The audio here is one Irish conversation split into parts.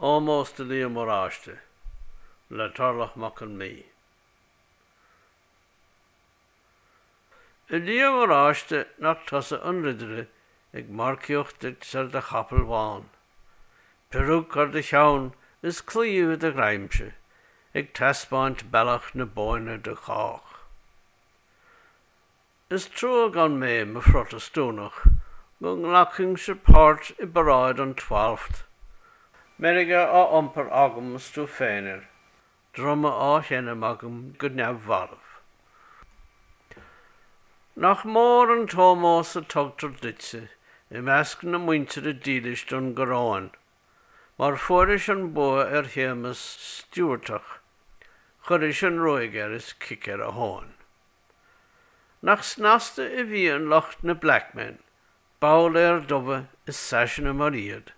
Ómós do Liam Oráiste le Torlach Mac Con Midhe. A Liam Oráiste nach tusa an ridire ag marcaíocht duit ar do chapall bhán, peiriúic ar do cheann is claíomh i do ghreimse ag taispeáint bealach na Bóinne do chách. Is trua gan mé i mo Phrotastúnach go nglacfainnse páirt i bparáid an Twalfth. Meirge á iompar agam is tú féin air, druma á sheinm agam go neamhbhalbh. Nach mór an t-ómós a tugtar duitse i measc na muintire dílis don gcoróin, mar fuairis an bua ar Shéamas Stiúbhartach, chuiris an ruaig air is cic ar a thóin. Nach snasta a bhíonn lucht na Blackmen, babhlaeir dubha is saiseanna mar iad,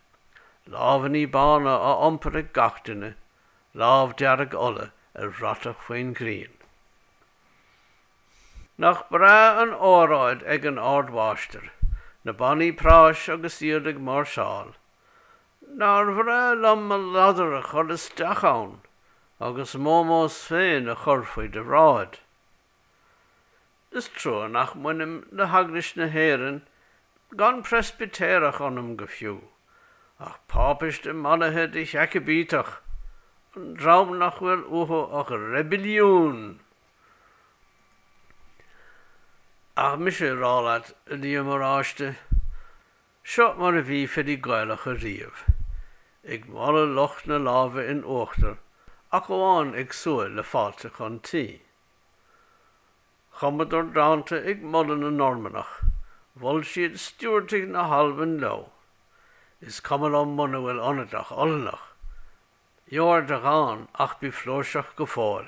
lámhainní bána á iompar ag gach duine, lámh dearg Uladh ar bhratach faoin ghrian. Nach breá an óráid ag an ardmháistir, na bannaí práis agus iad ag máirseáil. Nár bhreá liom mo ladar a chur isteach ann! agus m'ómós féin a chur faoi do bhráid. Is trua nach mbainim le hEaglais na hÉireann, gan Preispitéireach ionam go fiú, ach Páipiste mallaithe de Sheacaibíteach, an dream nach bhfuil uathu ach reibiliún! Ach mise á rá leat, a Liam Oráiste, Seo mar a bhí filí Gaelacha riamh, ag moladh lucht na láimhe in uachtar ach amháin ag súil le fáilte chun tí. Chumadar dánta ag moladh na Normannach, mhol siad Stiúbhartaigh na hAlban leo. Is cuma liom muna bhfuil ionat ach Ollannach. Gheobhair do dhán ach bí flúirseach go fóill.